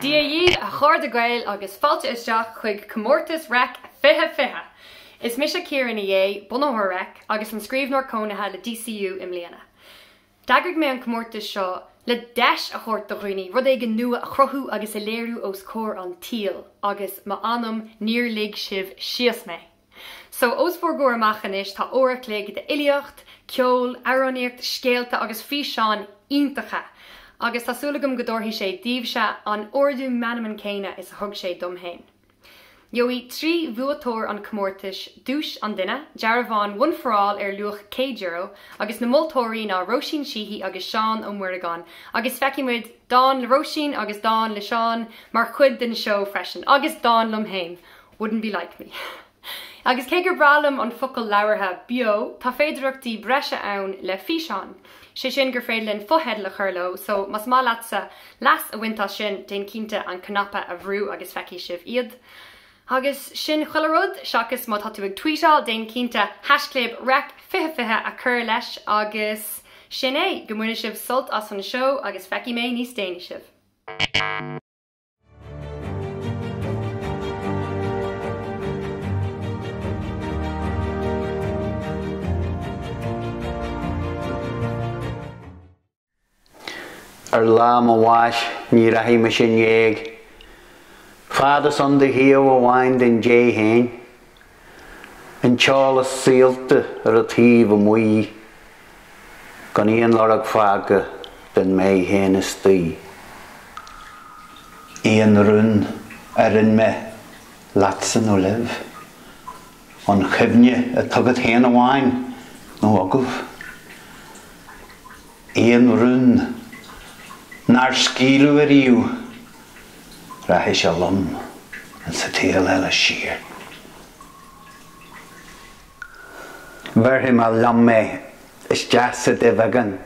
Dia dhaoibh a chairde Gaeil agus fáilte isteach chuig Comórtas Reic 2020! Is mise Ciara Ní É, bunaitheoir Reic agus an Scríbhneoir Cónaithe le DCU i mbliana. D'eagraigh mé an comórtas seo le deis a thabhairt do dhaoine rud éigin nua a chruthú agus a léiriú os comhair an tsaoil agus m'anam níor lig sibh síos mé! So, os bhur gcomhair amach anois tá uair a chloig d'fhilíocht, ceol, amhránaíocht, scéalta agus físeáin iontacha agus tá súil agam go dtabharfaidh sé daoibhse an ardú meanman céanna is a thug sé dom féin. Gheobhaidh trí bhuaiteoir an chomórtais duais an duine, dearbhán One for All ar luach €100, agus na moltóirí ná Róisín Sheehy agus Seán Ó Muireagáin, agus feicfidh muid dán le Róisín agus dán le Seán mar chuid den seó freisin, agus dán liom féin, Wouldn't Be Like Me. Agus cé gur breá liom an focal labhartha, beo, tá féidearthachtaí breise ann le físeáin. sé sin gur féidir linn fotheidil a chur leo, so más maith leatsa leas a bhaint as sin, déan cinnte an cnaipe a bhrú agus feicfidh sibh iad. Agus sin chuile rud, seachas má tá tú ag tweetáil, déan cinnte haischlib Reic 2020 a chur leis agus sin é, go mbaine sibh sult as an seó agus feicfidh mé níos déanaí sibh. Ar lá mo bháis ní rachaidh mise in éag. Fad is ann do thaobh amháin den dé féin. An t-eolas saolta ar an taobh amuigh, gan aon lorg fágtha den mé féin istigh. Aon rún a roinn mé, leatsa nó libh, an chuimhne atá agat féin amháin nó agaibh. Aon rún nár scaoileadh ariamh. Rachaidh sé liom ins a' tsaol eile siar. Bhéarfaidh mé liom é isteach sa duibheagán,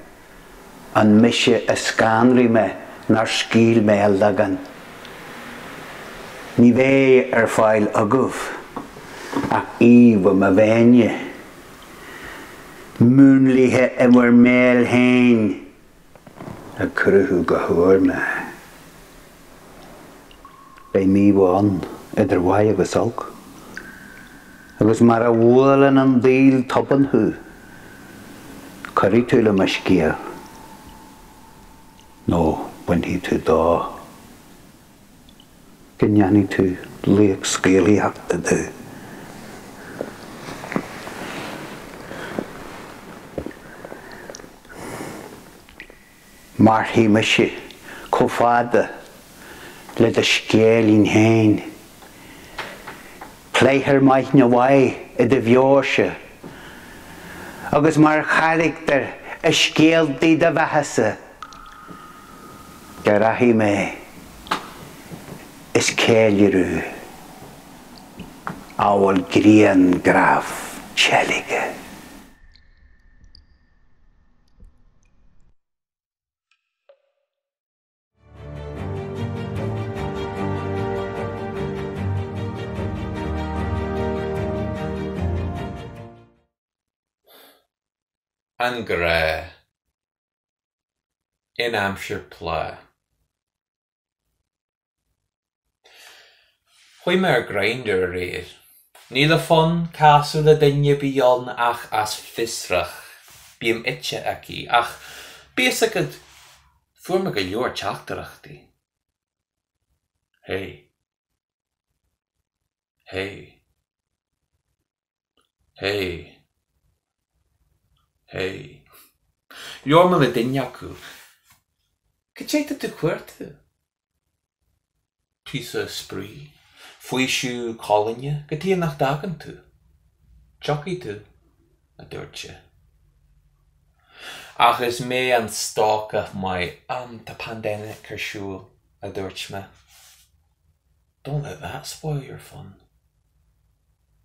an mise a scanraigh mé nár scaoil mé a leagan? Ní bheidh ar fáil agaibh ach íomhá mo mhéine, múnlaithe in bhur mbéal féin. a chruthú go húr nó beidh mímheá ann idir mhaith agus olc, agus mar a bhuaileann an daol tobann thú, cuirfidh tú le mo scéal nó bainfidh tú dó. go ndéanfaidh tú laoch scéalaíochta de. Mairfidh mise chomh fada le do scéilín féin. Pléifear mar namhaid i do véarsa, agus mar charachtar i scéaltaí do bheathasa, Déarfaidh mé, is ceiliúradh amhail grianghraf teilgthe. An grá. in aimsir plá. Chuaigh mé ar Grindr aréir. Ní le fonn casadh le duine a bhí ann ach as fiosracht. Bím ite aici, ach bíodh a fhios agat, fuair mé go leor teachtaireachtaí. Hey. Hey. Hey. Hey. Labhair mé le duine acu. Cad é atá tú a chuartú? Píosa spraoi, faoiseamh colainne cad chuige nach dtagann tú. Tiocfaidh tú, a dúirt sé. Ach is mé an stócach maith, um, tá pandemic ar siúl, a dúirt mé. Don't let that spoil your fun.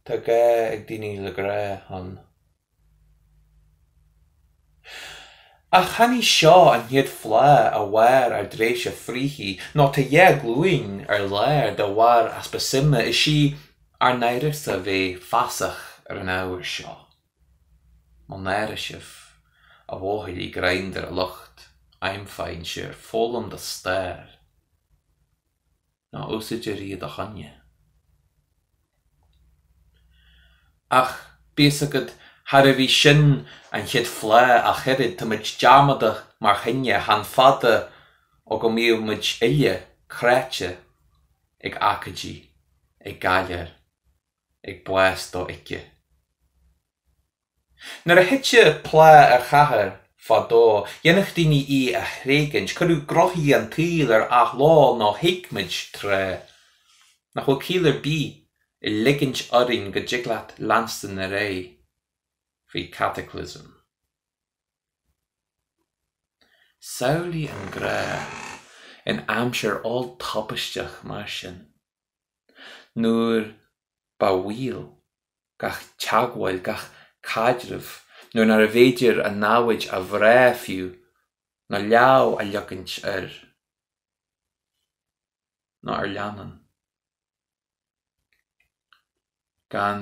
Tá gá ag daoine le grá ann. Ach chan í seo an chéad phlá a mhair ár dtreibhse fríthi, nó tá dhá ghlúin ar lár de bharr easpa suime, is í ár n-áireamh a bheith feasach ar an ábhar seo. Mo náire sibh, a bhuachaillí Grindr, a lucht aimfhainnse ar foghlaim do stair. ná úsáidtear i do choinne. Ach bíodh a fhios agat, charbh í sin an chéad phlá ach oiread, tá muid dearmadach mar chine, chan fada ó go mbíodh muid uile cráite ag aicídí, ag galar, ag bás do-íce. Nuair a thiteadh plá ar chathair fadó, dhéanadh daoine í a thréigint. Cuireadh gnóthaí an tsaoil ar athló nó thuigeadh muid, tráth, nach bhfuil ciall ar bith i ligint orainn go dtig leat leanstan ar aghaidh faoi cataclysm. Samhlaigh an grá in aimsir olltubaisteach mar sin. nuair ba bhaol, gach teagmháil, gach caidreamh, nuair nárbh fhéidir an namhaid a bhrath fiú, ná lámh a leagaint air ná ar leannán, gan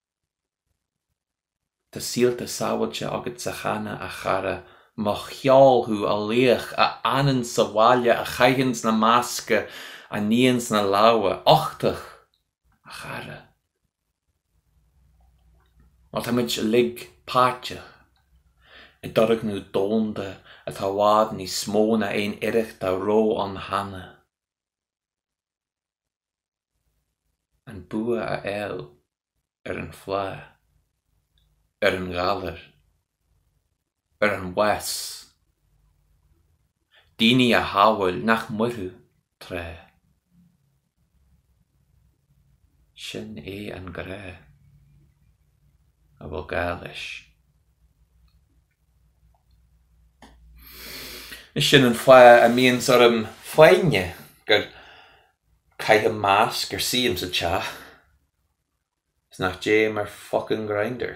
Tá saolta sábháilte agatsa cheana, a chara. Mo cheol thú, a laoch, a fhanann sa bhaile, a chaitheann na masca, a níonn na lámha. Uchtach, a chara. Má táimid uilig páirteach i dturgnamh domhanda atá i bhfad níos mó ná aon iarracht dá raibh ann cheana, an bua a fháil ar an phlá, ar an ghalar, ar an bhás, daoine a shábháil nach mairfeadh tráth. Sin é an grá a bhfuil gá leis. Is sin an fáth a mbíonns orm foighne go gcaithim masc, go suím sa teach is nach dtéim ar fucking Grindr.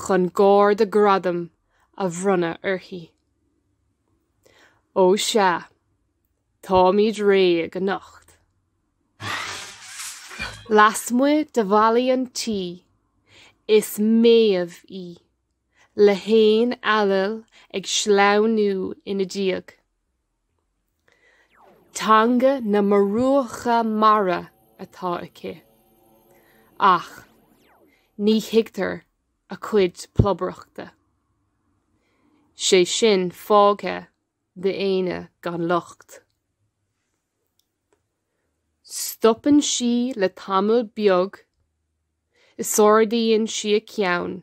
chun gáir de ghradam a bhronnadh uirthi. Ó sea, táimid réidh anocht. Lasmuigh de bhallaí an tí, is Méabh í, le hanáil Ailill ag sleamhnú ina diaidh. Teanga na murúcha mara atá aici, ach ní thuigtear a cuid plobaireachta, sé sin fágtha d'aoinne gan locht. Stopann sí le tamall beag, is ardaíonn sí a ceann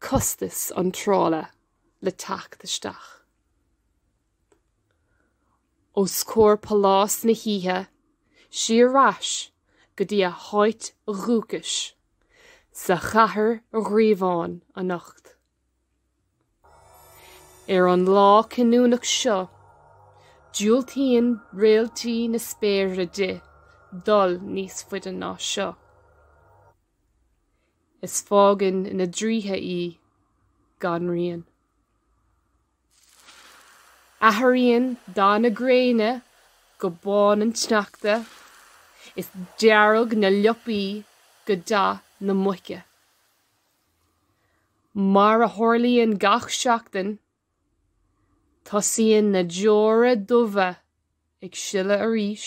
costais iontrála le teacht isteach os comhair phálás na hoíche, sí ar ais go dtína háit dhúchais sa chathair ghríobháin anocht. Ar an lá cinniúnach seo, diúltaíonn réaltaí na spéire di dul níos faide ná seo. is fágann na draoithe í gan rian. Athraíonn dath na gréine go bán an tsneachta, is dearg na liopaí go dath na muice. Mar a tharlaíonn gach seachtain, tosaíonn na deora dubha ag sileadh arís.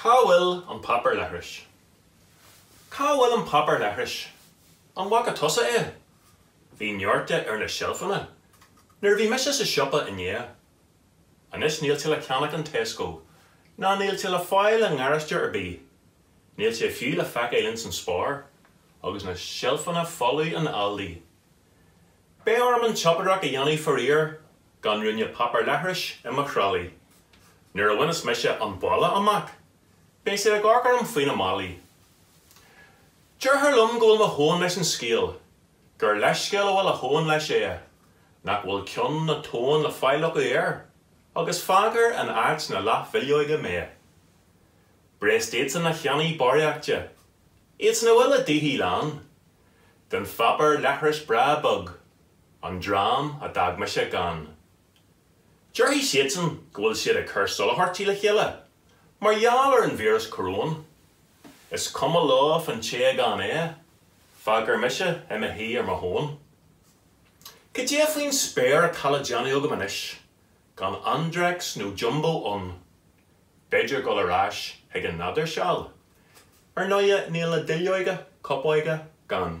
Cá bhfuil an páipéar leithris? Cá bhfuil an páipéar leithris? An bhfaca tusa é? Bhí neart de ar na seilfeanna nuair a bhí mise sa siopa inné. Anois níl sé le ceannach in Tesco, ná níl sé le fáil i ngaráiste ar bith. Níl sé fiú le feiceáil insan Spar, agus na seilfeanna folamh in Aldi. Beidh orm an tsiopaireacht a dhéanamh faraor gan ruainne páipéar leithris i mo thralaí. Nuair a bhaineas mise an baile amach, beidh siad ag amharc orm faoina málaí. Déarfar liom go bhfuil mo thóin leis an scéal, gur leithscéal a bhfuil a thóin leis é, nach bhfuil cion na tóin le fáil acu air, agus fágfar in áit na leathbhileoige mé. Breast iadsan a cheannaigh barraíocht de. Iadsan a bhfuil a dtithe lán den pháipéar leithris breá bog, an dream a d'fhág mise gann. Déarfaidh siadsan go bhfuil siad ag cur soláthairtí le chéile mar gheall ar an víreas coróin. Is cuma leo fán té gan é, fágfar mise i mo shuí ar mo thóin. Cad é faoin spéir atá le déanamh agam anois gan Andrex nó Jumbo ann? B'fhéidir dul ar ais ag an nádúr seal. Ar ndóigh níl na duilleoga copóige gann.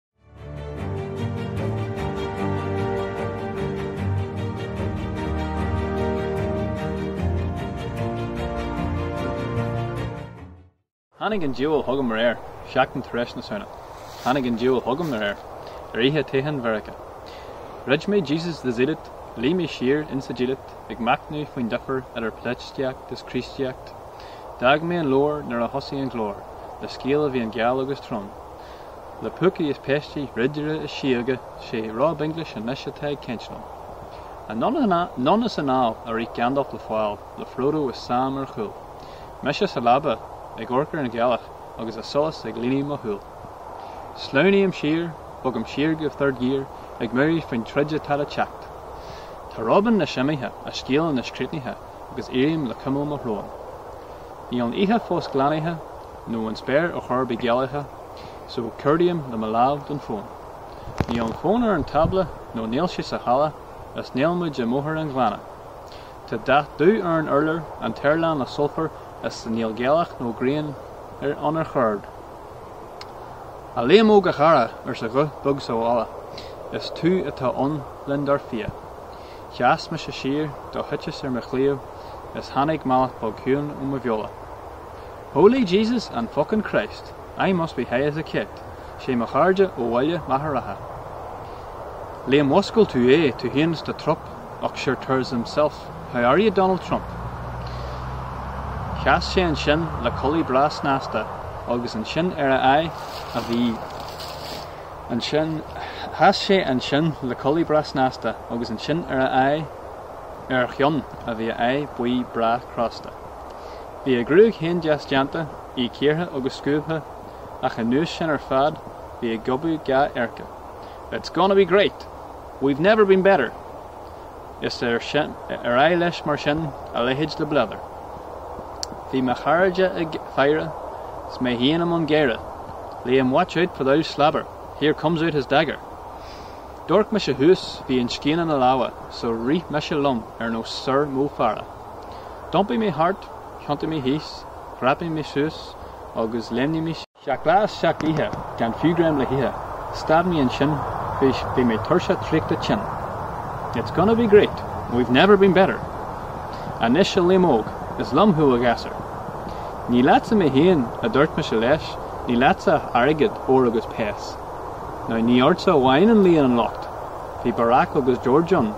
Tháinig an diabhal chugam aréir, seachtain tar éis na Samhna. Tháinig an diabhal chugam aréir, ar oíche toghcháin Mheiriceá. Dhruid mé Jesus the Zealot, luigh mé siar insa diallait ag machnamh faoin difir idir polaitíocht is Críostaíocht. D'fhág mé an leabhar nuair a thosaigh an glór, le scéal a bhí an-gheal agus trom. Le púcaí is péistí, ridire is síoga, 'sé Rob Inglis anois atá ag caint liom. Anonn is anall a rith Gandalf le fáil, le Frodo is Sam ar chúl. Mise sa leaba, ag amharc ar an ghealach agus a solas ag líonadh mo shúl. Sleamhnaím siar, bogaim siar go third gear, ag meabhrú faoin troid atá le teacht. Tá Rob anois imithe, a scéal anois críochnaithe agus éirím le cuimil mo shrón. Níl an oíche fós glanaithe, nó an spéir ar chor ar bith gealaithe, So, cuardaím le mo lámh don fón. Níl an fón ar an tábla, nó níl sé sa halla, is níl muid i mBóthar an Ghleanna. Tá dath dubh ar an urlár, an t-aer lán le sulfar, is níl gealach nó grian ann ar chor ar bith. A Liam óg a chara, arsa guth beag sa halla, is tú atá ann linn dar fia. Sheas mise siar, do thiteas ar mo chliabh, is tháinig mallacht beag ciúin ó mo bheola. Holy Jesus and fuckin Christ, I must be high as a kite, sé mo chairde ó Bhaile Machaire Rátha Liam mhúscail tú é tú fhéin is do trup och sure there's himself how are you Donald Trump Sheas sé ansin le culaith breá snasta agus ansin ar a aghaidh a bhí sheas sé ansin le culaith breá snasta agus ansin ar a aghaidh ar a cheann a bhí a aghaidh buí breá crosta. Bhí a gruaig féin deas déanta, í cíortha agus scuabtha, ach anuas sin ar fad, bhí ag gobadh dhá adharca. It's gonna be great! We've never been better! Is ar aghaidh leis mar sin, a leithéid de bhleadar. Bhí mo chairde ag faire, 's mé féin i mbun gáire, Liam watch out for thon slabber, here comes out his dagger! D'amharc mise thuas, bhí an scian ina lámha, so rith mise liom ar nós Sir Mo Farah. D'iompaigh mé thart, thiontaigh mé thíos, dhreapaigh mé suas agus léimnigh mé. Seacht lá is seacht oíche, gan fiú greim le hithe, stad mé ansin, bhí mé tuirseach traochta tinn. It's gonna be great, we've never been better. Anois a Liam Óg, is liom thú a ghasúir. Ní leatsa mé féin, a dúirt mise leis, ní leatsa ach airgead, ór agus péas. Now ní ortsa amháin a luíonn an locht, bhí Barack agus George ann,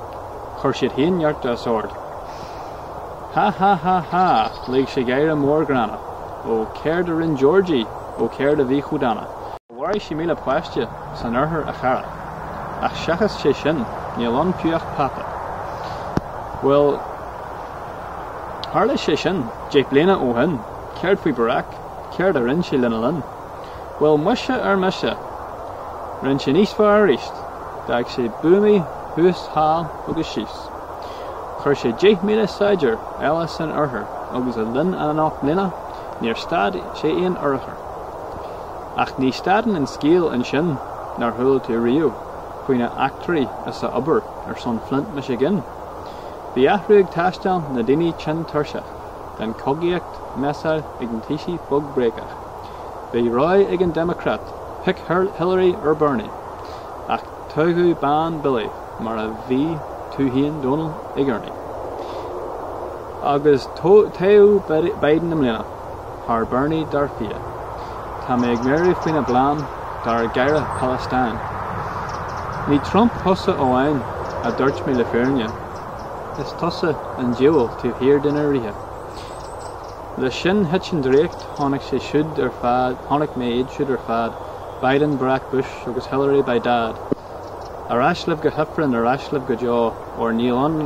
chuir siad féin neart as ord. Ha ha ha ha! Lig sé gáire mór gránna. Ó, céard a rinn Georgie? Ó, céard a bhí chomh dána? Mharaigh sé míle páiste san Oirthear a chara. Ach seachas é sin, níl ann fiú ach peata. Bhuel, tharla sé sin deich bliana ó shin. Céard faoi Barack? Céard a rinn sé lena linn? Bhuel muise ar mise! Rinn sin níos fearr aríst. D'fhág sé buamaí thuas, thall agus síos. Chuir sé 10,000 saighdiúir eile san oirthear agus le linn a ocht mbliana níor stad sé aon urchar. Ach ní stadann an scéal ansin, nár chuala tú riamh faoina eachtraí is a obair ar son Flint, Michigan? Bhí athrú ag taisteáil, na daoine tinn tuirseach den chogaíocht, measa ag na taoisigh fuckbréagach. Bhí rogha ag an Democrat, pick Hillary or Bernie, ach toghadh bean Billy mar a bhí tú féin Donal ag urnaí. Agus toghadh Biden i mbliana thar Bernie dar fia. Tá mé ag meabhrú faoina bplean dár gcara Palestine. Ní Trump thusa amháin a dúirt mé le fírinne, is tusa an diabhal taobh thiar de na ríthe. Leis sin, thit an draíocht, tháinig sé siúd ar fad, chonaic mé iad siúd ar fad, Biden, Barack, Bush agus Hillary by Dad. Ar ais libh go hIfreann, ar ais libh go deo, óir níl ann,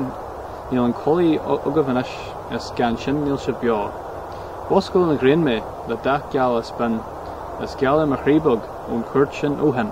níl an chulaith agaibh anois, is gan sin níl sibh beo. Mhúscail an ghrian mé, le dath geal is binn, is gealadh ar mo chroí beag, ón chuairt sin ó shin.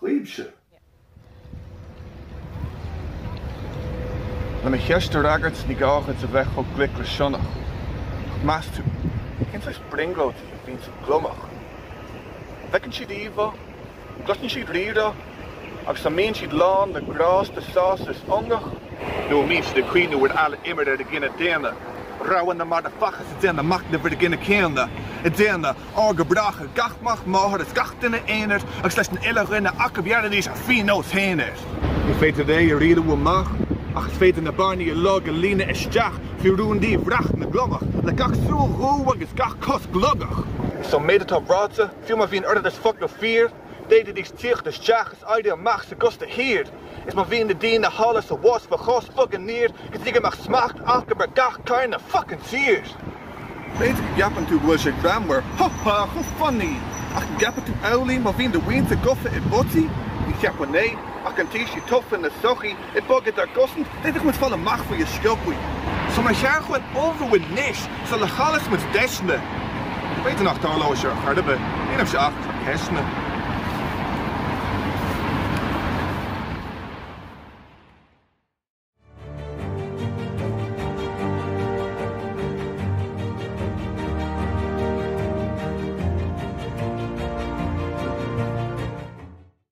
Ghaibhse. Le mo cheist a fhreagairt, ní gá dhuit a bheith chomh glic le sionnach. Ach meas tú, cén saghas brionglóidí a bhíonns ag an gliomach? An bhfeiceann siad íomhá? An gcloiseann siad rírá? Agus an mbíonn siad lán le grásta, sásamh is ionadh? Nó an mbíonn siad ag cuimhneamh ar fheall a imir ar an gcine daonna, rogha na marbhfháisc ag déanamh machnamh ar an gcine céanna, ag déanamh. ár go bréachadh gach mac máthar is gach duine aonair agus leis na uile dhuine acu bhéarfaidís a phionós féin air. Ní féidir é a rialú amach, ach is féidir na bearnaí a ligean a líonadh isteach faoi rúndaí bhreith na ngliomach, le gach súil dhubh agus gach cos gliogach. So an méid atá ráite, fiú má bhíonn orthu is fuck nó fíor, d'fhéadfaidís tíocht isteach is éirí amach sa gcósta thiar, is má bhíonn na daoine thall is abhus faoi chois fuckin' aniar go dtí go mbeadh smacht acu ab ar gach cearn den fuckin tír. B'fhéidir go gceapann tú go bhfuil sé greannmhar, ha ha, chomh funny! Ach an gceapann tú amhlaidh má bhíonn do mhuintir gofa i bpotaí? Ní cheapann, eh, achainí ar thaoisigh tofa na sochaí i bhfad ar gcosaint, b'fhéidir muid fáil amach faoi go sciobtha. So ba cheart dúinn ullmhú anois sula chaillfeadh muid deiseanna. B'fhéidir nach dtarlóidh sé ar chor ar bith, nílimse ach ag cur ceisteanna.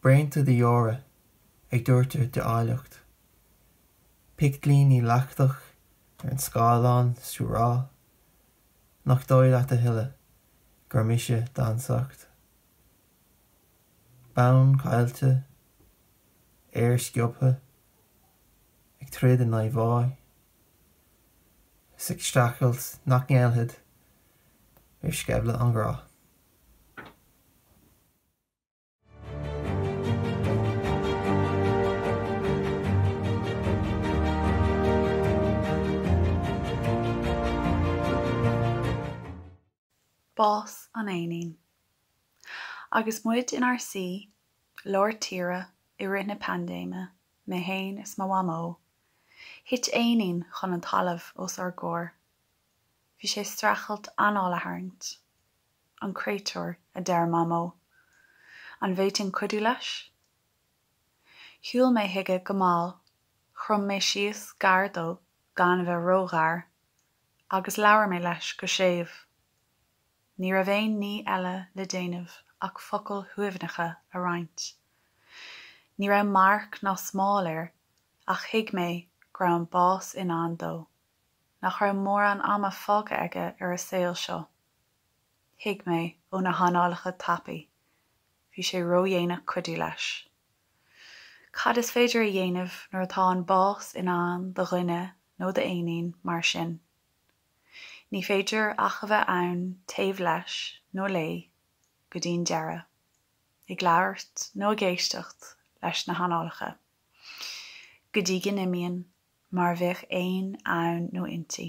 braonta de dheora ag doirteadh de áilleacht, picteilíní leactach ar an scáileán 's tú rá nach dóigh leat a thuilleadh gur mise d'ansacht, bonn caillte, aer sciobtha ag troid in aghaidh bháidh, 's ag streachailt nach ngéillfead do sceimhle an ghrá. Bás an éinín. Agus muid inár suí lár tíre i rith na paindéime, mé fhéin is mo mhamó, thit éinín chun an talamh os ár gcomhair. Bhí sé streachailt anáil a tharraingt. an créatúr, a deir Mamó. An bhféadfainn cuidiú leis? Shiúil mé chuige go mall, chrom mé síos gar dó, gan a bheith ró-ghar, agus labhair mé leis go séimh. Ní raibh aon ní eile le déanamh ach focail shuaimhneacha a roinnt. Ní raibh marc ná smál air, ach thuig mé go raibh an bás i ndán dó, nach raibh mórán ama fágtha aige ar an saol seo. Thuig mé, ó na hanálacha tapaí, bhí sé ródhéanach cuidiú leis. Cad is féidir a dhéanamh nuair atá an bás i ndán do dhuine nó d'éinín mar sin? Ní féidir ach a bheith ann taobh leis nó léi go dtí'n deireadh, ag labhairt nó ag éisteacht leis na hanálacha, go dtí go n-imíonn, mar bheatha a bhíonn ann nó inti.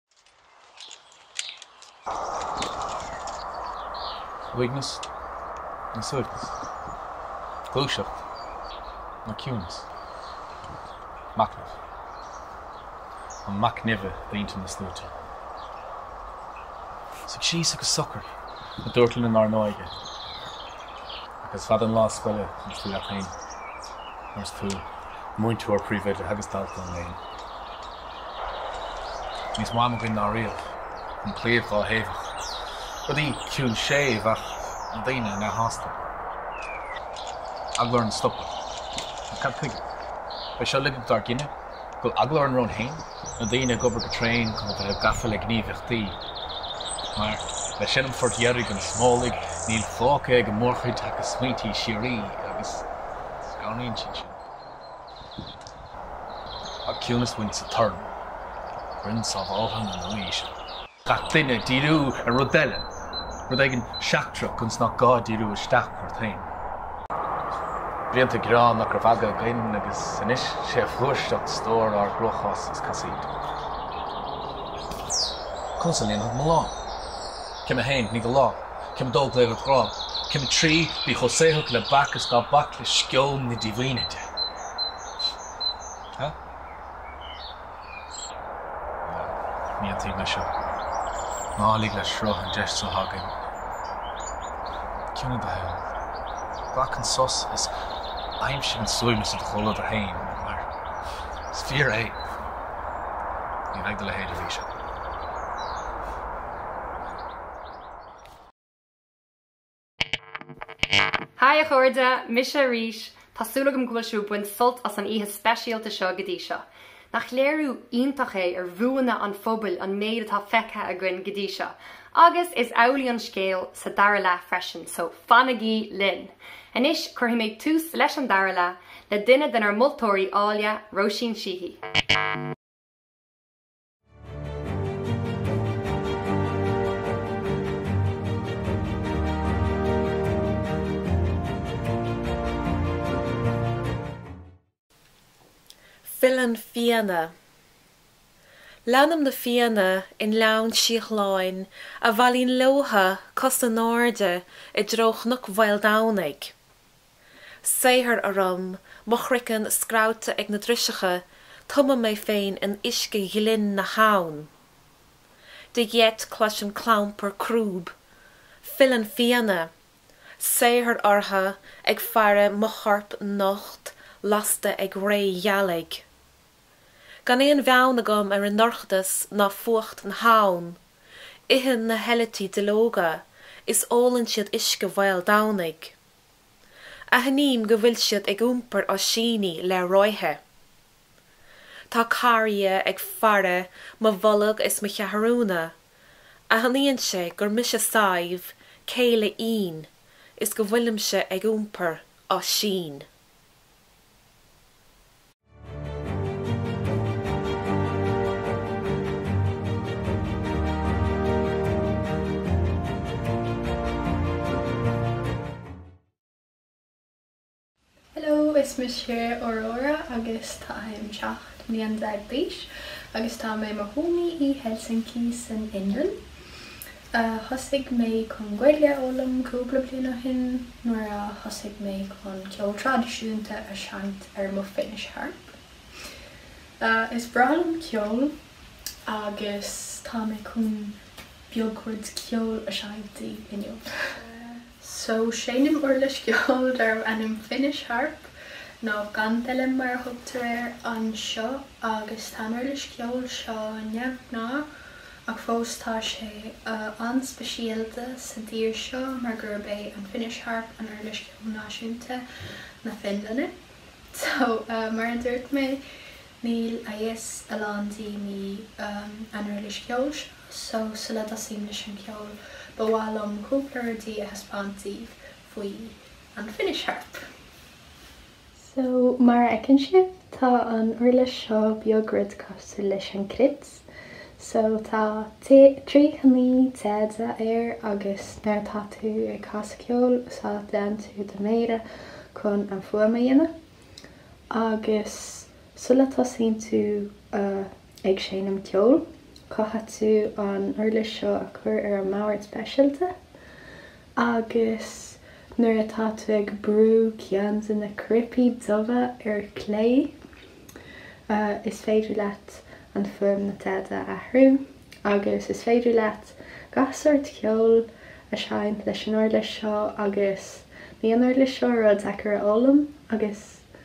Uaigneas nó suaimhneas? Gluaiseacht nó ciúnas? Machnamh an mac nimhe i dtaobh na sluaite? Suigh síos agus socraigh, a dúirt linn inár n-óige, ach is fada an lá scoile nuair is tú leat féin, nuair is tú múinteoir, príomhoide agus dalta an léinn. Níos mó am againn ná riamh an claíomh dhá thaobhach, rudaí ciúin séimh ach na daoine neamhshásta. Eagla orainn stopadh. Ach cad chuige? Bhí seo dlite dár gcine? An bhfuil eagla orainn romhainn féin? Na daoine ag obair go tréan chun a bheith gafa le gníomhaíochtaí mar leis sin an phort deiridh don smólach, níl fágtha ag an mórchuid ach a smaointí síoraí agus scanraíonn siad sin. An ciúnas féin sa torann rinn sábháltha na Nua-aoise. gach duine ag díriú ar rud eile, rud éigin seachtrach ionas nach gá díriú isteach ort féin. Blianta ag gearán nach raibh aga againn agus anois is é a fhlúirseacht stór ár gcruachás is casaoid. Conas a líonfad mo lá? Céim 1, Nigh do lámha. Céim 2, Glaoigh ar do ghrá. Céim 3, Bí chomh saothrach le beach is ná bac le sceon na díomhaointe. Ní aontaím leis seo. Ná lig le sruth an deis seo againn. Ciúnaigh do shaol. Glac an sos is aimsigh an suaimhneas i do chomhluadar féin, mar is fíor é, ní bheidh do leithéid arís ann. Hi a chairde, mise arís! Tá súil agam go bhfuil sibh ag baint sult as an oíche speisialta seo go dtí seo. Nach léiriú iontach é ar bhuanna an phobail an méid atá feicthe againn go dtí seo? Agus is amhlaidh an scéal sa dara leath freisin, so fanaigí linn! Anois, cuirfidh mé tús leis an dara leath le duine denár moltóirí áille, Róisín Sheehy. Filleann fianna. Leanaim na fianna i nGleann Síothláin a bhailíonn leotha cos in airde i dtreo Chnoc Mhaoldomhnaigh. Saothar orm, mo chroiceann scrabhta ag na driseacha, tumaim mé féin in uisce ghlinn na habhann. De gheit cloisim clampar crúb, filleann fianna, saothar ortha ag faire mo chorp nocht lasta ag ré ghealaigh. Gan aon bheann agam ar an ndorchadas ná fuacht na habhann, itheann na heilití duilleoga, is ólann siad uisce Mhaol Domhnaigh. Aithním go bhfuil siad ag iompar oisíní le ráithe. Tá carria ag faire mo bholg is mo cheathrúna. Aithníonn sé gur mise Sadhbh, céile Fhinn, is go bhfuilimse ag iompar oisín. Hello, is mise Aurora agus táim seacht mbliana déag d'aois agus tá mé i mo chónaí i Helsinki san Fhionlainn. a thosaigh mé chun Gaeilge a fhoghlaim cúpla bliain ó shin nuair a thosaigh mé chun ceol traidisiúnta a seinnt ar mo Finnish Harp. Is breá liom ceol agus tá mé chun beagán ceol a seinnt daoibh inniu. So seinnim uirlis cheoil darb ainm Finnish Harp, nó kantele mar a thugtar air anseo, agus tá an uirlis cheoil seo neamhghnách, ach fós tá sé an-speisialta sa dtír seo mar gurb é an Finnish Harp an uirlis cheoil náisiúnta na Fionlainne. So, mar a dúirt mé, níl a fhios ag a lán daoine an uirlis cheoil seo, so sula dtosaím leis an gceol, ba mhaith liom cúpla rudaí a thaispeáint daoibh faoi an Finnish Harp. So, mar a fheiceann sibh, tá an uirlis seo beag rud cosúil leis an cruit. So, tá tríocha naoi téad air agus nuair atá tú ag casadh ceoil úsáideann tú do mhéara chun an fuaim a dhéanamh. Agus sula dtosaíonn tú ag seinm ceoil, caithfidh tú an uirlis seo a chur ar an mbord speisialta. agus nuair atá tú ag brú ceann de na cnaipí dubha ar chlé, is féidir leat an fuaim na dtéad a athrú, agus is féidir leat gach sórt ceoil a sheinnt leis an uirlis seo, agus níl an uirlis seo rud deacair a fhoghlaim, agus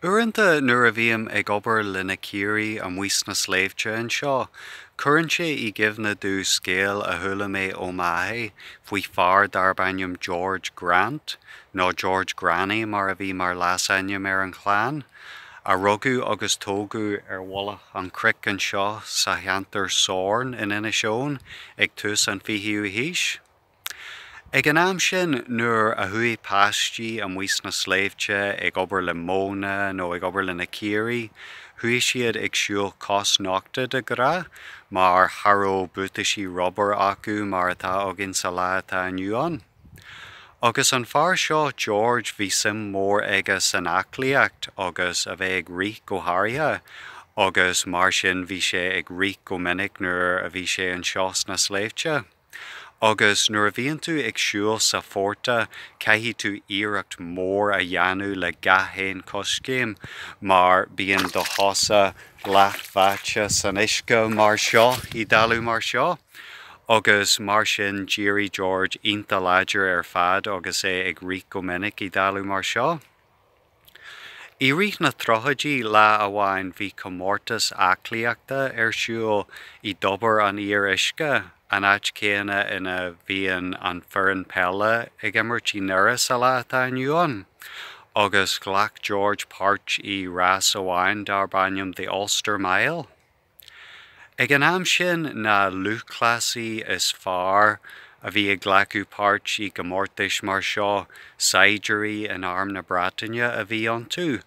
Uaireanta nuair a bhím ag obair le na caoirigh amuigh sna sléibhte anseo, cuireann sé i gcuimhne domh scéal a chuala mé ó m'athair faoi fear darb ainm George Grant, nó George Granny mar a bhí mar leasainm ar an chlann, a rugadh agus tógadh ar mhullach an chnoic anseo sa cheantar Sorn in Inis Eoghain ag tús an fichiú haois. Ag an am sin, nuair a chuaigh páistí amuigh sna sléibhte ag obair le móna nó ag obair le na caoirigh, chuaigh siad ag siúl cosnochta de ghnáth, mar cha raibh buataisí rubair acu mar atá againn sa lá atá inniu ann. Agus an fear seo, George, bhí suim mhór aige san aclaíocht agus a bheith ag rith go háirithe, agus mar sin bhí sé ag rith go minic nuair a bhí sé anseo sna sléibhte. Agus nuair a bhíonn tú ag siúl sa phortach caithfidh tú iarracht mór a dhéanamh le gach aon choiscéim mar bíonn do chosa leathbháite san uisce mar seo, i dtalamh mar seo. Agus mar sin d'éirigh George iontach láidir ar fad agus é ag rith go minic i dtalamh mar seo. I rith na dtríochaidí, lá amháin bhí comórtas aclaíochta ar siúl i dTobar an Fhíoruisce, an áit chéanna ina mbíonn an foireann peile ag imirt i nDoire sa lá atá inniu ann, agus ghlac George páirt i rás amháin darb ainm The Ulster Mile. Ag an am sin, na lúthchleasaí is fearr a bhí ag glacadh páirt i gcomórtais mar seo, saighdiúirí in Arm na Breataine a bhí iontu,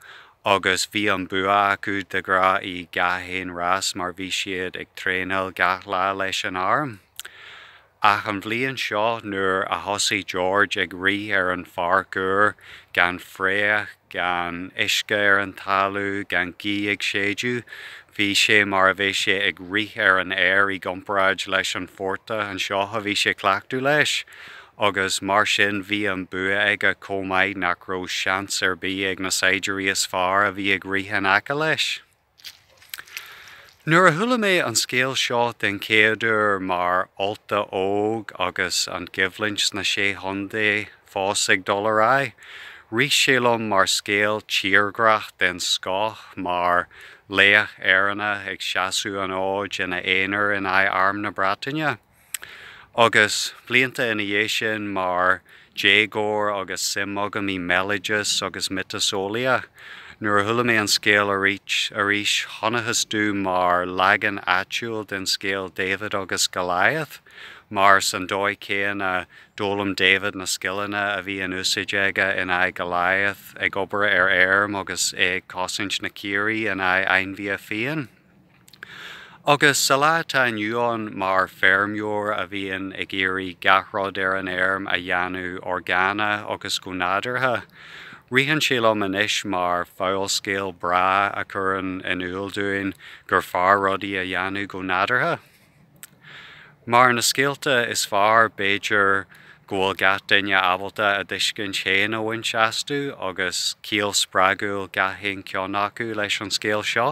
agus bhí an bua acu de ghnáth i gach aon rás mar bhí siad ag traenáil gach lá leis an Arm. Ach an bhliain seo, nuair a thosaigh George ag rith ar an pháirc úr, gan fraoch, gan uisce ar an talamh, gan gaoth ag séideadh, bhí sé mar a bheadh sé ag rith ar an aer i gcomparáid leis an phortach anseo a bhí sé cleachta leis. Agus mar sin, bhí an bua aige chomh maith nach raibh seans ar bith ag na saighdiúirí is fearr a bhí ag rith in aice leis. Nuair a chuala mé an scéal seo den chéaduair mar Ulta óg agus an choimhlint sna Sé Chontae fós ag dul ar aghaidh, rith sé liom mar scéal tírghrách den scoth, mar laoch Éireannach ag seasamh an fhóid ina aonar in aghaidh Arm na Breataine. Agus blianta ina dhiaidh sin, mar dhéagóir agus suim agam i mbéaloideas agus miotaseolaíocht, nuair a chuala mé an scéal arís, chonacthas dom mar leagan áitiúil den scéal David agus Goliath, mar san dóigh céanna, d'fhoghlaim David na scileanna a bhí in úsáid aige in aghaidh Goliath, ag obair ar fheirm agus é ag cosaint na caoirigh in aghaidh ainmhithe fiáin. Agus sa lá atá inniu ann, mar feirmeoir a bhíonn ag iarraidh gach rud ar an fheirm a dhéanamh orgánach agus go nádúrtha, ritheann sé liom anois mar fabhalscéal breá a chuireann in iúl dúinn gur fearr rudaí a dhéanamh go nádúrtha. Mar na scéalta is fearr, b'fhéidir, go bhfuil gach duine ábalta a dtuiscint féin a bhaint astu, agus ciall spreagúil gach aon cheann acu leis an scéal seo.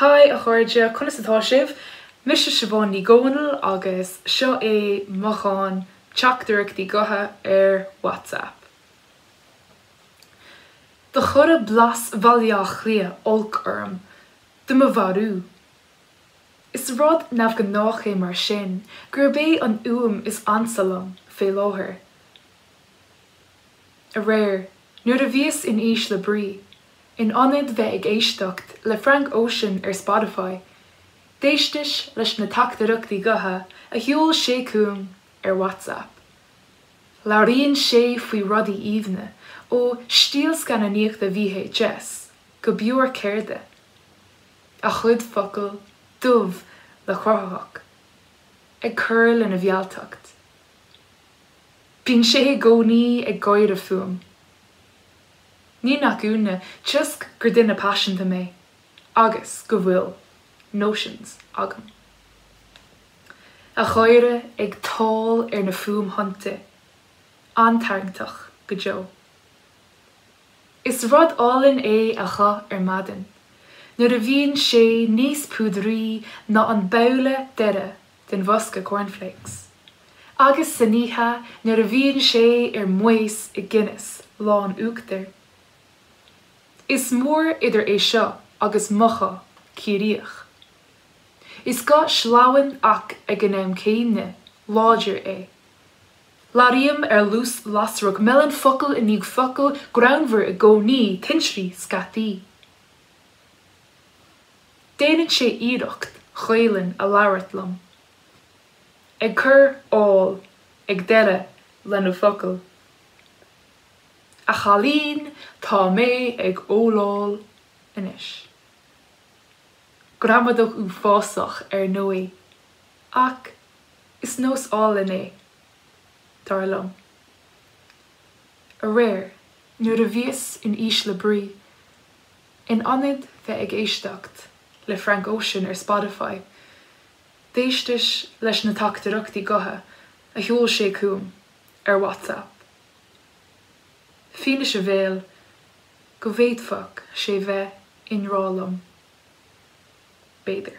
Haigh a chairde, conas atá sibh? Mise Siobhán Ní Dhomhnaill agus seo é mo dhán teachtaireachtaí gutha ar WhatsApp. Do chuireadh blas Bhaile Átha Cliath olc orm, do mo mharú. Is rud neamhghnách é mar sin gurb é an fhuaim is ansa liom fé láthair. Aréir, nuair a bhíos in ísle brí, In ionad bheith ag éisteacht le Frank Ocean ar Spotify, d'éisteas leis na teachtaireachtaí gutha a sheol sé chugam ar WhatsApp. Labhraíonn sé faoi rudaí aoibhne, ó stíl scannánaíochta VHS go beoir ceirde. A chuid focal, dubh le cruthaitheacht, ag cur lena mhealltacht. Bíonn sé i gcónaí ag gáire fúm. Ní nach ionadh toisc gur duine paiseanta mé agus go bhfuil notions agam. A gháire ag tál ar na fuaimthonnta, an-tarraingteach go deo. Is rud álainn é a ghuth ar maidin nuair a bhíonn sé níos púdraí ná an babhla deiridh den bhosca cornflakes. Agus san oíche, nuair a bhíonn sé ar maos i Guinness lán uachtair. Is mór idir é seo agus mo ghuth Ciarraíoch. Is guth sleamhain ach ag an am céanna, láidir é. Labhraím ar luas lasrach, meileann focal i ndiaidh focail, greannmhar i gcónaí, tintrí scaití. Déanann sé iarracht Gaelainn a labhairt liom, ag cur áil ag deireadh lena focail. A chailín, tá mé ag óláil anois. Gramadach uafásach, ar ndóigh, ach is nós álainn é, dar liom. Aréir, nuair a bhíos in ísle brí, In ionad bheith ag éisteacht le Frank Ocean ar Spotify, d'éisteas leis na teachtaireachtaí gutha a sheol sé chugam ar WhatsApp. Fianaise bhéil go bhféadfadh sé bheith i ngrá liom, b'fhéidir.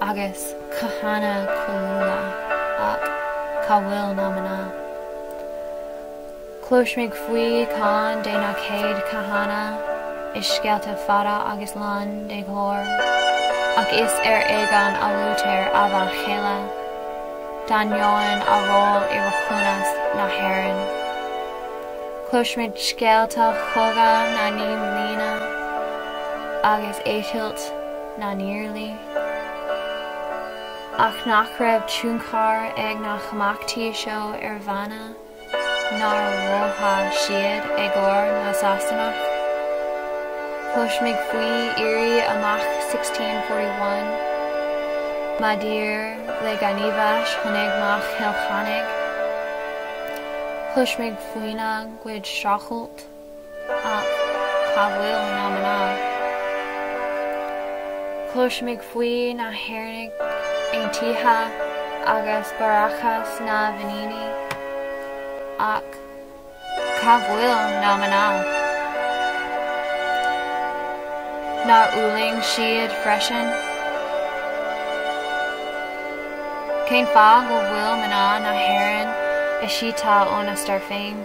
agus cathanna cáiliúla, ach cá bhfuil na mná? Cloisimid faoi Chonn de na Céad Cathanna i scéalta fada agus lán de ghlóir, ach is ar éigean a luaitear a bhean chéile, d'ainneoin a ról i rathúnas na hÉireann. Cloisimid scéalta chogadh na naoi mbliana agus eitilt. na nIarlaí, ach nach raibh tionchar ag na himeachtaí seo ar mhná, nár mhothaigh siad éagóir na Sasanach, Cloisimid faoi Éirí Amach 1641, maidir le gníomhais Chónaidhm Chill Chainnigh, cloisimid faoina gcuid streachailt, Ach cá bhfuil na mná? Cloisimid faoi na hÉireannaigh Aontaithe agus Bráithreachas na bhFiníní, ach cá bhfuil na mná? Nár fhulaing siad freisin? Cén fáth go bhfuil mná na hÉireann eisiata óna stair féin?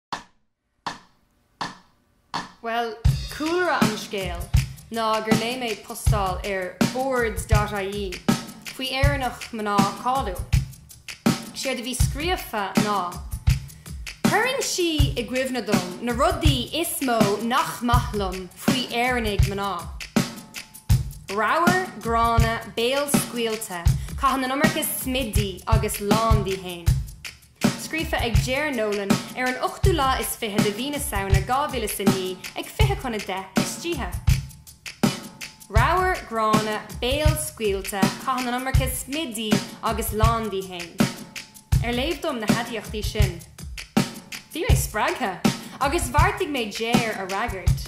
Bhuel, cúlra an scéil ná gur léigh mé postáil ar Boards dot ie faoi Éireannach mná cáiliúil. 'Séard a bhí scríofa ná, Cuireann sí i gcuimhne dom na rudaí is mó nach maith liom faoi Éireannaigh mná. Ramhar, gránna, béalscaoilte, caitheann an iomarca smididh agus lán dí fhéin. Scríofa ag Ger Nolan ar an ochtú lá is fiche de mhí na Samhna 2009 ag fiche chun a deich istoíche. Ramhar, gránna, béalscaoilte, caitheann an iomarca smididh agus lán dí fhéin. Ar léamh dom na haidiachtaí sin, bhí mé spreagtha agus bheartaigh mé Ger a fhreagairt.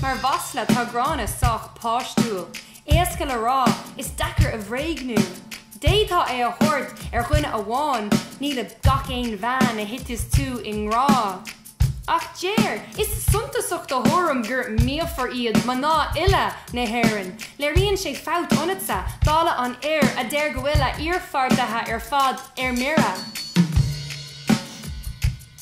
Mar mhasla, tá gránna sách páistiúil, éasca le rá, is deacair a bhréagnú. D'fhéadfá é a thabhairt ar dhuine amháin, ní le gach aon bhean a thiteas tú i ngrá. Ach Ger, is suntasach do thuairim gur míofar iad mná uile na hÉireann. Léiríonn sé fabht ionatsa, dála an fhir a deir go bhfuil a iarpháirtithe ar fad ar mire.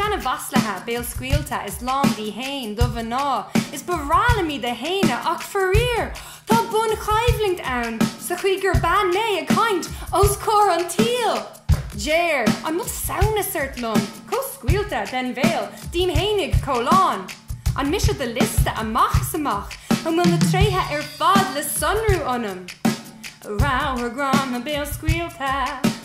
seana-mhaslaithe, béalscaoilte is lán dí fhéin, do mhná, is ba bhreá liom iad a shéanadh, ach faraor, tá bun-choimhlint ann, sa chaoi gur bean mé ag caint os comhair an tsaoil! Ger, an mbeadh samhnas ort liom, chomh scaoilte, den bhéal, díom fhéinig, chomh lán? An mise do liosta amach is amach? An bhfuil na tréithe ar fad le sonrú ionam? Ramhar, gránna, béalscaoilte.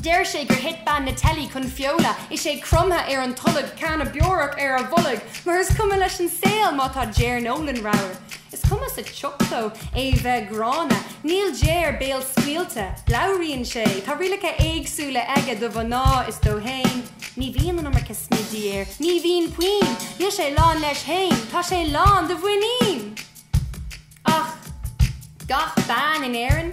Deir sé gur thit bean na teilí chun feola is é cromtha ar an tolg, canna beorach ar a bholg, mar is cuma leis an saol má tá Ger Nolan ramhar. Is cuma sa tsioc dó é bheith gránna. Níl Ger béalscaoilte. Labhraíonn sé. Tá rialacha éagsúla aige do mhná is dó fhéin. Ní bhíonn an iomarca smididh air. Ní bhíonn puinn. Níl sé lán leis fhéin. Tá sé lán de mhuinín! Ach gach bean in Éirinn?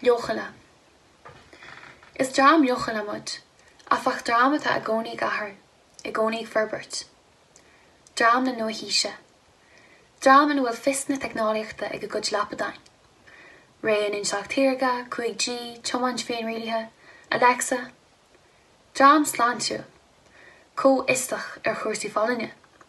Leochaile. Is dream leochaile muid, áfach, dream atá i gcónaí ag athrú, i gcónaí ag forbairt. Dream na nua-haoise. Dream ina bhfuil fios na teicneolaíochta ag a gcuid lapadáin. Ré an Intleacht Shaorga, 5G, tiomáint féinrialaithe, Alexa. Dream sláintiúil. Comhfhiosach ar chúrsaí folláine.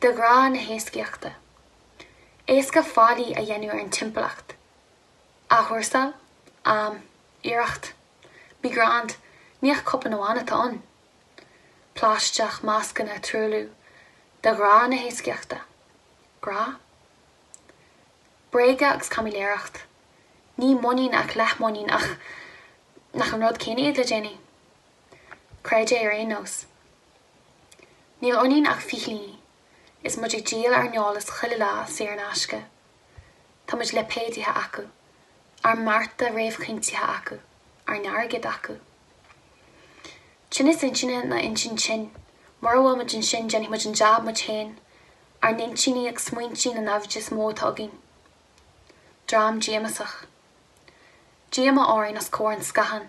De ghrá na héascaíochta. Éasca faillí a dhéanamh ar an timpeallacht. Athchúrsáil, am, iarracht. Be grand, ní ach cupán amháin atá ann! Plaisteach, mascanna, truailliú. De ghrá na héascaíochta. Grá? Bréaga agus caimiléireacht. Ní muinín ach leathmuinín ach nach an rud céanna iad le déanaí? Creid é ar aon nós. Níl ionainn ach fichillíní, is muid ag díol ár n-eolas chuile lá saor in aisce. Táimid lipéadaithe acu, ár mbearta réamhchinntithe acu, ár n-airgead acu. Tinneas intinne nó intinn tinn, mura bhfuil muid ansin déanfaidh muid an jab muid féin, ár n-intinní ag smaointí na naimhde is mó atá againn. Dream díomasach. Díomá orainn os comhair an scátháin.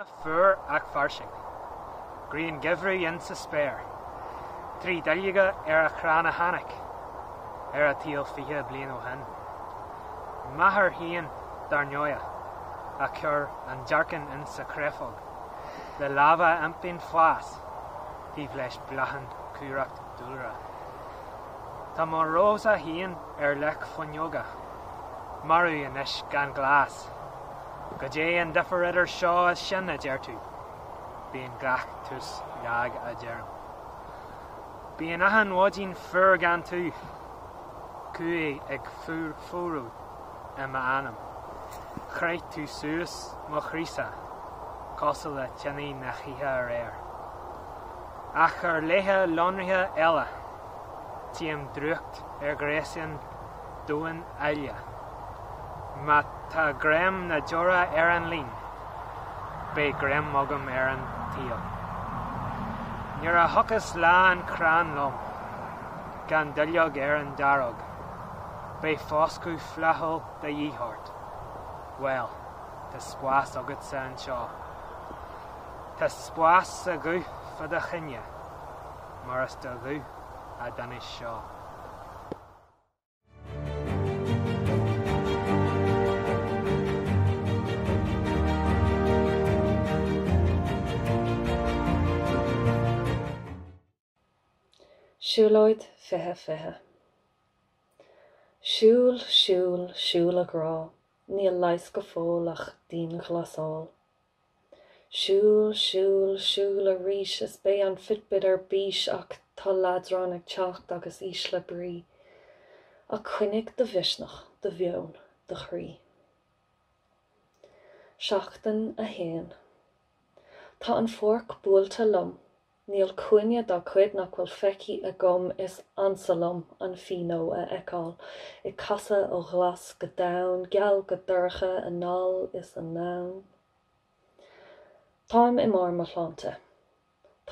Lá fuar ach fairsing. Grian geimhridh insa spéir. Trí duilleoga ar an chrann a tháinig ar an tsaol fiche bliain ó shin. M'athair féin, dar ndóigh, a chuir an dearcán insa chréafóg le lámha a iompaíonn fás. taobh leis bláthann cumhracht dúlra. Tá mo rós-sa féin ar leac fuinneoige. Marbh anois gan glas. Goidé an difear idir seo is sin, a deir tú? Bíonn gach tús lag, a deirim. Bíonn achan mhaidin fuar gan tú. Cumhaidh ag fuarú. i m'anam. Chroith tú suas mo chroí-sa cosúil le tinidh na hoíche aréir. Ach ar laethe lonraithe eile, tchím drúcht ar ghréasáin damháin alla. Má tá greim na deora ar an líon, beidh greim agam ar an tsaol. Nuair a thiocfas lá an chrann lom, gan duilleog ar an daróg, beidh foscadh flaithiúil de dhíth ort. Bhuel, tá spás agatsa anseo. Tá spás sa ghuth fá do choinne, mar is do ghuth a d'inis seo. Siúlóid 20 20 Siúl, siúl, siúl a ghrá, níl leigheas go fóill ach dianghlasáil. Siúl, siúl, siúl arís is beidh an fitbit ar bís ach tá leadrán ag teacht agus ísle brí. Ach coinnigh do mhisneach, do mheon, do chroí. Seachtain 1 Tá an pháirc buailte liom Níl cúinne dá cuid nach bhfuil feicthe agam, is ansa liom an féar a fheiceáil ag casadh ó ghlas go donn, geal go dorcha, anall is anonn. Táim i mbarr mo shláinte,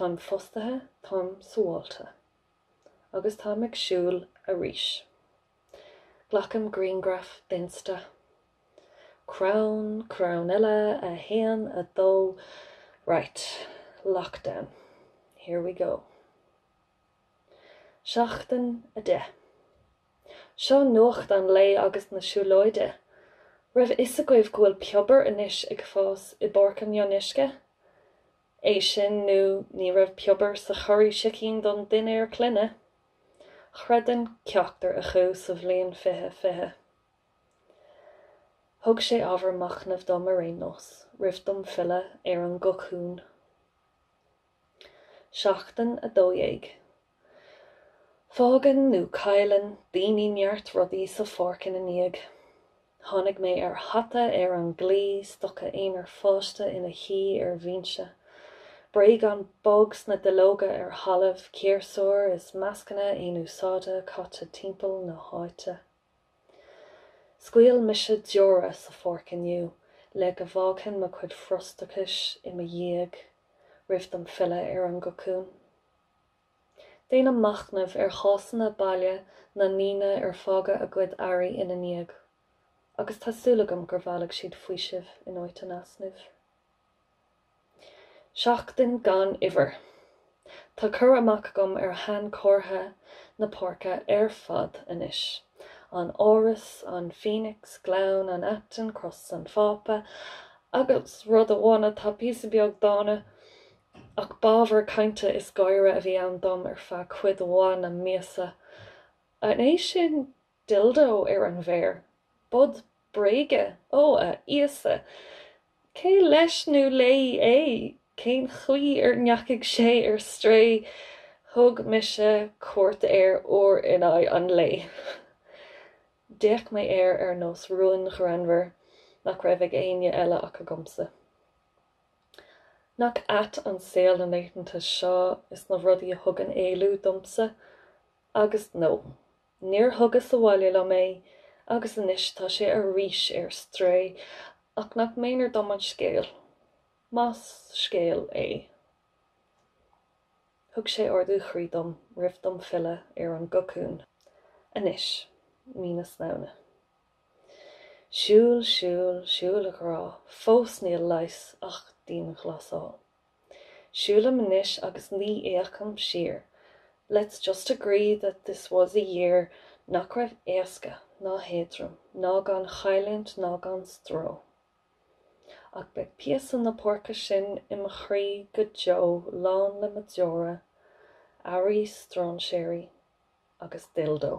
táim fostaithe, táim sabháilte. Agus táim ag siúl arís. Glacaim griangraf d'insta. Crann, crann eile, a haon, a dó, right, lockdown, here we go. Seachtain 10. Seo nuacht an lae agus na siúlóide. Raibh a fhios agaibh go bhfuil piobair anois ag fás i bPáirc an Fhionnuisce? É sin nó ní raibh piobair sa churraí sicín don dinnéar clainne. Chreidfinn ceachtar acu sa bhliain 2020. Thug sé ábhar machnaimh dom ar aon nós, roimh dom filleadh ar an gcocún. Seachtain 12. Fágann nó cailleann daoine neart rudaí sa pháirc ina ndiaidh. Tháinig mé ar hata ar an gclaí, stoca aonair fágtha ina shuí ar bhinse, bréagán bog sna duilleoga ar thalamh, ciarsúir is mascanna aonúsáide caite timpeall na háite. Scaoil mise deora sa pháirc inniu le go bhfágfainn mo chuid frustrachais i mo dhiaidh roimh dom filleadh ar an gcocún. Déanaim machnamh ar chásanna baile na ndaoine ar fhág a gcuid earraí ina ndiaidh, agus tá súil agam gur bhailigh siad faoiseamh in áit an easnaimh. Seachtain gan uimhir. Tá cur amach agam ar shainchomharthaí na páirce ar fad anois, an Áras, an Phoenix, Gleann an Aitinn, Cros an Phápa, agus rud amháin atá píosa beag dána, Ach b'ábhar cainte is gáire a bhí ann dom ar feadh cuid mhaith na míosa. An é sin dildo ar an bhféar? Bod bréige? Ó, a Íosa! Cé leis nó léi é? Cén chaoi ar ndeachaigh sé ar strae? Thug mise cuairt air uair in aghaidh an lae. D'fhéach mé air ar nós rúin ghreannmhar nach raibh ag éinne eile ach agamsa. Nach ait an saol na laethanta seo is na rudaí a thugann éalú domsa? Agus no. Níor thugas abhaile liom é, agus anois tá sé arís ar strae, ach nach méanar dom an scéal, más scéal é. Thug sé ardú chroí dom roimh dom filleadh ar an gcocún, anois, mí na Samhna. Siúil, siúil, siúil a ghrá, fós níl leigheas ach dianghlasáil. Siúlaim anois agus ní fhéachaim siar, let's just agree that this was a year nach raibh éasca ná héadrom ná gan chailliúint ná gan stró. Ach beidh píosa na páirce sin i mo chroí go deo lán le mo deora, earraí stráinséirí agus dildo.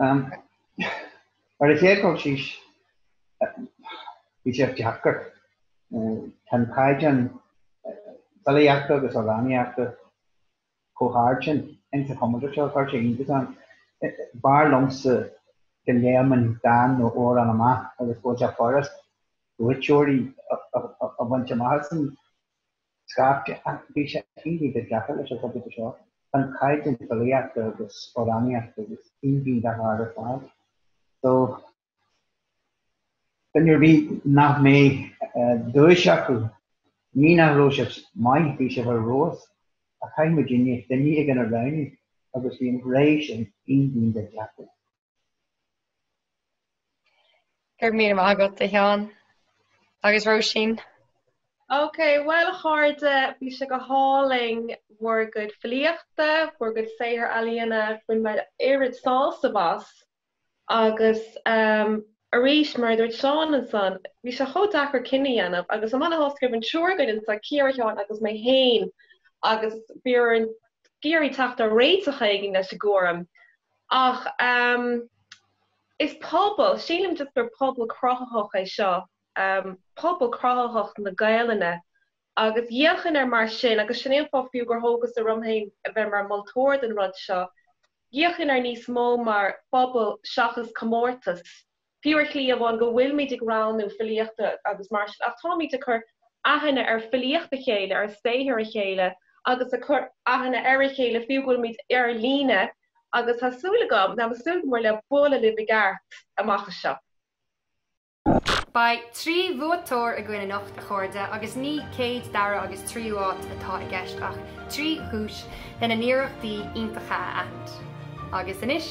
Ar an chéad dul síos, bhí sé deacair. Tá an caighdeán filíochta agus amhránaíochta chomh hard sin ins an chomórtas seo, chuir sé iontas orm. B'fhearr liomsa go léimfeadh an dán nó amhrán amach agus go mbeadh sé furasta buaiteoirí a bhaint amach as an scaifte ach bhí sé iontach deacair leis an chomórtas seo tá an caighdeán filíochta agus amhránaíochta iontach go deo thar barr so duine ar bith nach mbeidh duais acu ní nach raibh sé maith bhí sé ar fheabhas ach chaith muid inniu duine éigin a roghnú agus bhí an léir sin iontach deacair. Go raibh míle maith agat a Sheáin agus Róisín. Ok, bhuel ar dtús, bhí sé go hálainn bhur gcuid filíochta, bhur gcuid saothar ealaíona, bhain mé oiread sásaimh as agus arís, mar a dúirt Seán ansan, bhí sé chomh deacair cinneadh a dhéanamh agus um mar is amhlaidh go raibh an triúr againn anso, Ciara, Seán agus mé féin agus bhíomar ag iarraidh teacht ar réiteach éigin leis an gcúram. Ach is pobal, sílim just gur pobal cruthaitheach é seo, pobal cruthaitheach na Gaelainne. Agus d'fhéachfainn air mar sin, agus sin é an fáth fiú gur thógas orm féin a bheith mar moltóir don rud seo, d'fhéachfainn air níos mó mar phobal seachas comórtas Fiú ar shlí amháin go bhfuilimid ag roghnú filíochta agus mar sin, ach táimid ag cur aithne ar fhilíocht a chéile, ar saothar a chéile agus ag cur aithne ar a chéile fiú go bhfuilimid ar líne agus tá súil agam, táim ag súil go mór le bualadh libh i gceart amach anseo. Beidh trí bhuaiteoir againn anocht, a chairde, agus ní céad, dara agus tríú áit atá i gceist ach trí dhuais lena n-iarrachtaí iontacha a aithint. Agus anois,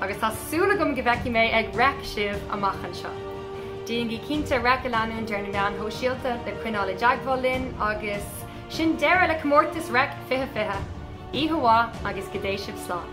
Agus tá súil agam go bhfeicfidh mé ag Reic sibh amach anseo. Déanaigí cinnte Reic a leanúint ar na meáin shóisialta le coinneáil i dteagmháil linn agus sin deireadh le comórtas Reic 2020! Oíche mhaith agus go dté sibh slán!